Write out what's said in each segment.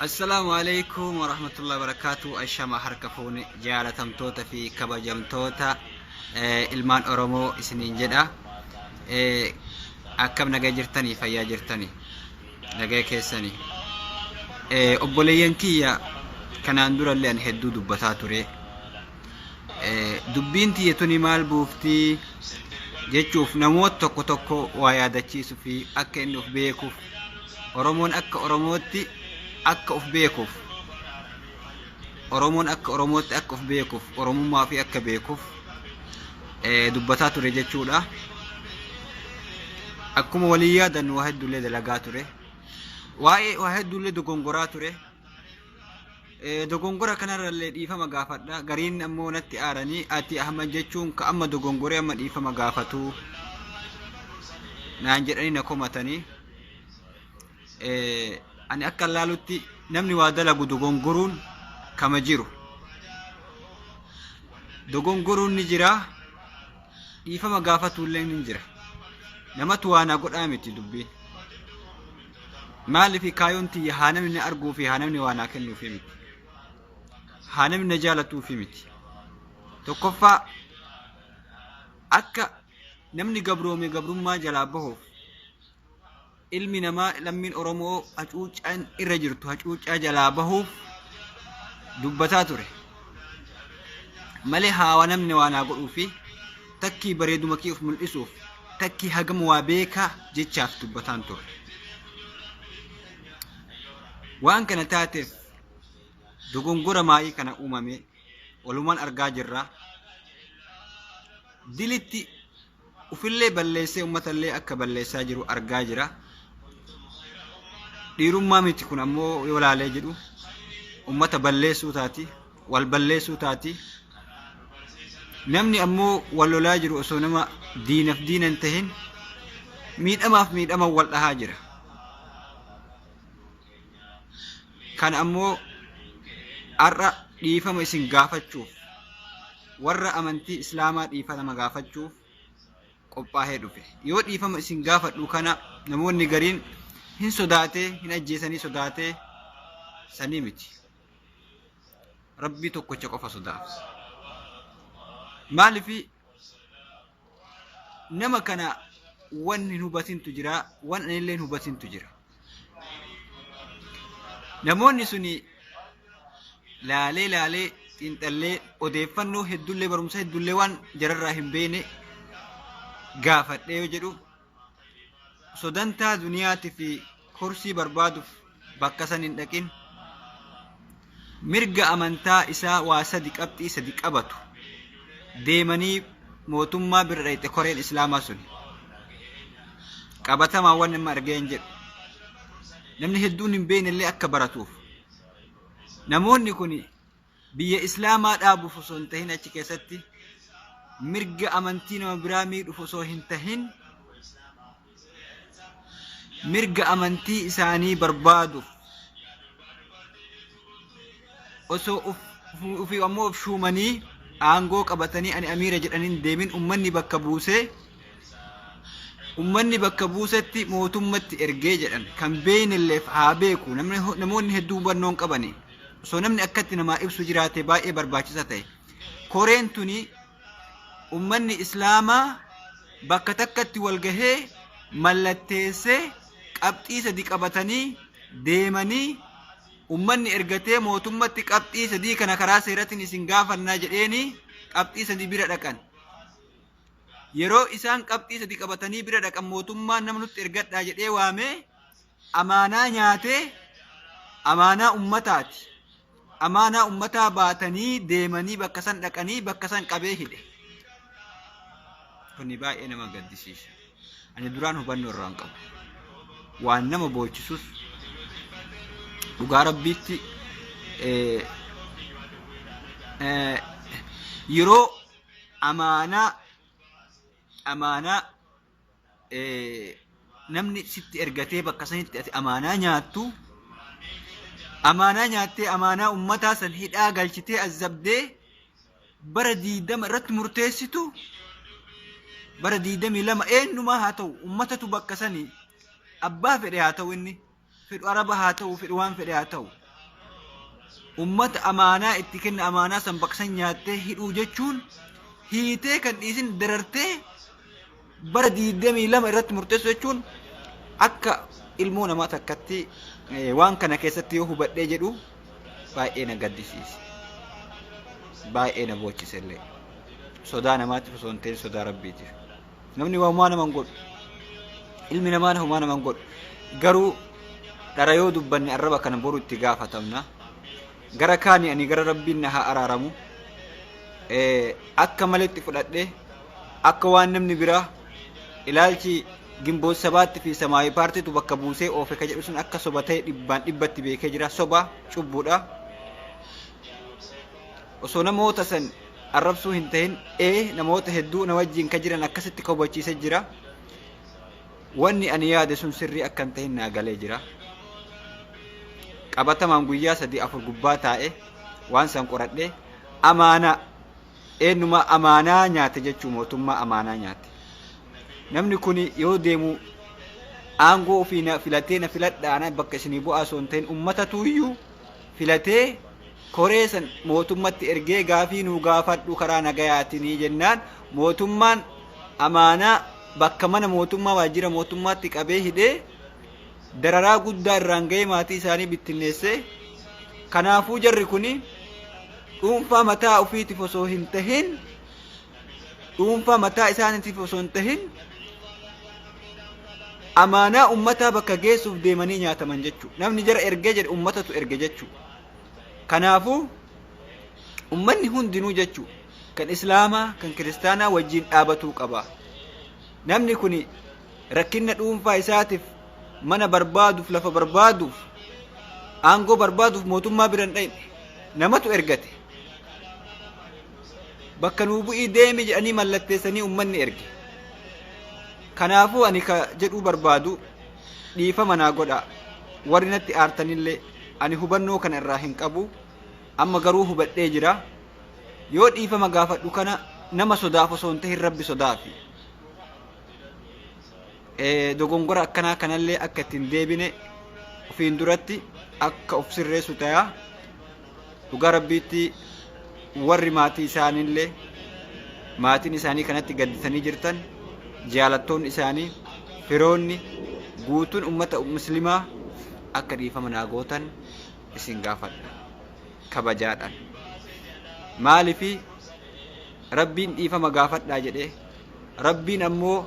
Assalaamu alaikum warahmatullahi wabarakatuh ashama harka fuune jaalatamtoota fi kabajamtoota eh, ilmaan oromoo isiniin jedha Eh, akkam nagaa jirtanii fayyaa jirtanii nagaa keessanii Eh, obboleeyyan kiyya kanaan durallee an hedduu dubbataa ture Eh, dubbiin tiyya tuni maal buuftii jechuuf namoota tokko tokko waa yaadachiisuu fi akka inni of beekuuf Oromoon akka Oromootti akka of beekuuf Oromoon akka Oromootti akka of beekuuf Oromummaa ofii akka beekuuf eh, dubbataa ture jechuudha. Akkuma walii yaadannu waa hedduullee dalagaa ture. Waa'ee waa hedduullee dogongoraa ture. Dogongora kanarrallee dhiifama gaafadha. Gariin ammoo natti aaranii ati Ahmad jechuun ka amma dogongoree amma dhiifama gaafatu naan jedhanii na komatanii. Ani akka laalutti namni waa dalagu dogongoruun kama jiru. Dogongoruun ni jira. Dhiifama gaafatuullee ni jira. Namatu waa na godhaa miti dubbiin. Maaliif kaayoon tiyya haa namni na arguu fi haa namni waa naa kennuuf miti. Haa namni na jaalatuuf miti. Tokkoffaa akka namni gabroome gabrummaa jalaa bahuuf ilmi namaa lammiin Oromoo hacuuccaan irra jirtu hacuuccaa jalaa bahuuf dubbataa ture. Malee haa namni waa naa godhuu fi Takkii bareeduma kee of mul'isuuf, takkii hagam waa beekaa jechaaf dubbataan turre. Waan kana taateef dogongora maayii kana uumame walumaan argaa jirra. Dilitti ufillee balleessee ummatallee akka balleessaa jiru argaa jira. Dhiirummaa miti kun ammoo yoo laalee jedhu ummata balleessuu taati. wal balleessuu taati. Namni ammoo wal lolaa jiru osoo nama diinaf diina hin tahin miidhamaaf miidhama wal dhahaa jira. Kan ammoo har'a dhiifama isin gaafachuuf warra amantii islaamaa dhiifama gaafachuuf qophaa'ee dhufe. Yoo dhiifama isin gaafadhu kana namoonni gariin hin sodaatee hin ajjeesanii sodaatee sanii miti. rabbii tokkocha qofa sodaafs maalifi nama kana wan hin hubatintu jira wan anillee hin hubatintu jira namoonni suni laalee laalee xiinxallee odeeffannoo heddullee barumsa heddullee waan jararraa hin beene gaafadhee yoo jedhu sodantaa duniyaati fi kursii barbaaduuf bakka san hin dhaqin mirga amantaa isaa waa sadi qabxii sadi qabatu deemanii mootummaa bira dhayxe koreen islaamaa sun qabatamaa waan nama argee hin jedhu namni hedduun hin beekne illee akka baratuuf namoonni kun biyya islaamaa dhaabuuf osoo hin tahin achi keessatti mirga amantii nama biraa miidhuuf osoo hin tahin mirga amantii isaanii barbaaduuf osoo uf- uf- ofii ammoo of shuumanii aangoo qabatanii ani amiira jedhanii hin deemin ummanni bakka buusee ummanni bakka buusetti mootummatti ergee jedhan kan beeynilleef haa beeku namni namoonni hedduu hubannoon qabani osoo namni akkatti namaa ibsu jiraate baay'ee barbaachisa ta'e. Koreen tuni ummanni islaamaa bakka takkatti wal gahee mallatteessee qabxii sadi qabatanii deemanii ummanni ergatee mootummatti qabxii sadii kana karaa seeratiin isin gaafannaa jedheenii qabxii sadii bira dhaqan. Yeroo isaan qabxii sadii qabatanii bira dhaqan mootummaan nama nutti ergadhaa jedhee waamee amaanaa nyaatee amaanaa ummataati. Amaanaa ummataa baatanii deemanii bakka san dhaqanii bakka san qabee hidhe. Kuni baay'ee nama gaddisiisa. Ani duraan hubannoo irraa hin qabu. Waan nama boochisus dhugaa rabbiitti eh, eh, yeroo amaanaa amaanaa namni sitti ergatee bakka sanitti ati amaanaa nyaattu amaanaa nyaattee amaanaa ummataa san hidhaa galchitee azabdee bara diidama irratti murteessitu bara diidamii lama eenyumaa haa ta'u ummatatu bakka sanii abbaa fedhe haa ta'u inni fedhu araba haa ta'u fedhu waan fedhe haa ta'u ummata amaanaa itti kenna amaanaa san baqsan nyaattee hidhuu jechuun hiitee kan dhiisin darartee bara 22 irratti murteessu jechuun akka ilmoo namaa takkatti eh, waan kana keessatti yoo hubadhee jedhu baay'ee na gaddisiise. Baay'ee na boochisellee. Sodaa namaatiif osoo hin ta'in sodaa rabbiitiif. namni waa homaa nama hin godhu ilmi namaan homaa nama hin godhu garuu dhara yoo dubbanne arraba kana boru itti gaafatamna gara kaani ani gara rabbiin na haa araaramu Eh, akka maletti fudhadhe akka waan namni biraa ilaalchi gimboot sabaatti fi samaawi paartiitu bakka buusee oofe ka jedhu sun akka soba ta'e dhibbaan dhibbatti beekee jira soba cubbuudha osoo namoota san arrabsuu hin tahin ee namoota hedduu na wajjiin ka jiran akkasitti ka hubachiise jira wanni ani yaade sun sirrii akka hin tahin naa galee jira qabatamaan guyyaa sadii afur gubbaa taa'e waan san qoradhe amaanaa eenyuma amaanaa nyaate jechuu mootummaa amaanaa nyaate namni kun yoo deemu aangoo ofii na filatee na filadhaana bakka isinii bu'aa osoo hin tahin ummatatu iyyuu filatee koree san mootummatti ergee gaafii nuu gaafadhu karaa nagayaatinii jennaan mootummaan amaanaa bakka mana mootummaa waajjira mootummaatti qabee hidhee dararaa guddaa irraan ga'ee maatii isaanii bittinneessee kanaafuu jarri kun dhuunfaa mataa ofiitiif osoo hin tahin dhuunfaa mataa isaaniitiif osoo hin tahin amaanaa ummataa bakka geessuuf deemanii nyaataman jechuudha. Namni jara ergee jedhe ummatatu erge jechuudha. Kanaafuu ummanni hundinuu jechuudha. Kan islaamaa kan kiristaanaa wajjin dhaabatuu qaba. Namni kun rakkinna dhuunfaa isaatiif mana barbaaduuf lafa barbaaduuf aangoo barbaaduuf mootummaa bira hin dhaqne namatu ergate. bakka nuu bu'ii deemi jedhanii mallatteessanii ummanni erge. Kanaafuu ani ka jedhuu barbaadu dhiifama naa godha. Warri natti aartanillee ani hubannoo kana irraa hin qabu. Amma garuu hubadhee jira. Yoo dhiifama gaafadhu kana nama sodaaf osoo hin tahin rabbi sodaafi. Eh, Dogongora akkanaa kanallee akka itti hin deebine ofiin duratti akka of sirreessu tayaa. dhugaa rabbiitti warri maatii isaaniillee maatiin isaanii kanatti gadditanii jirtan jaalattoonni isaanii firoonni guutuun ummata muslimaa akka dhiifama naa gootan isin gaafadha kabajaadhaan maalifi rabbiin dhiifama gaafadhaa jedhee rabbiin ammoo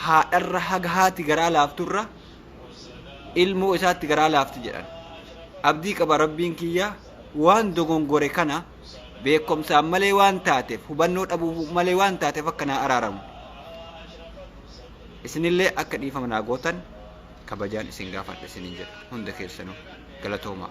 haadharra haga haati garaa laafturra ilmoo isaatti garaa laafti jedhan. Abdii qaba rabbiin kiyya waan dogongore kana beekomsaan malee waan taateef hubannoo dhabuu malee waan taateef akka naa araaramu. Isinillee akka dhiifama naa gootan kabajaan isin gaafadha isinin jedha hunda keessanuu galatoomaa.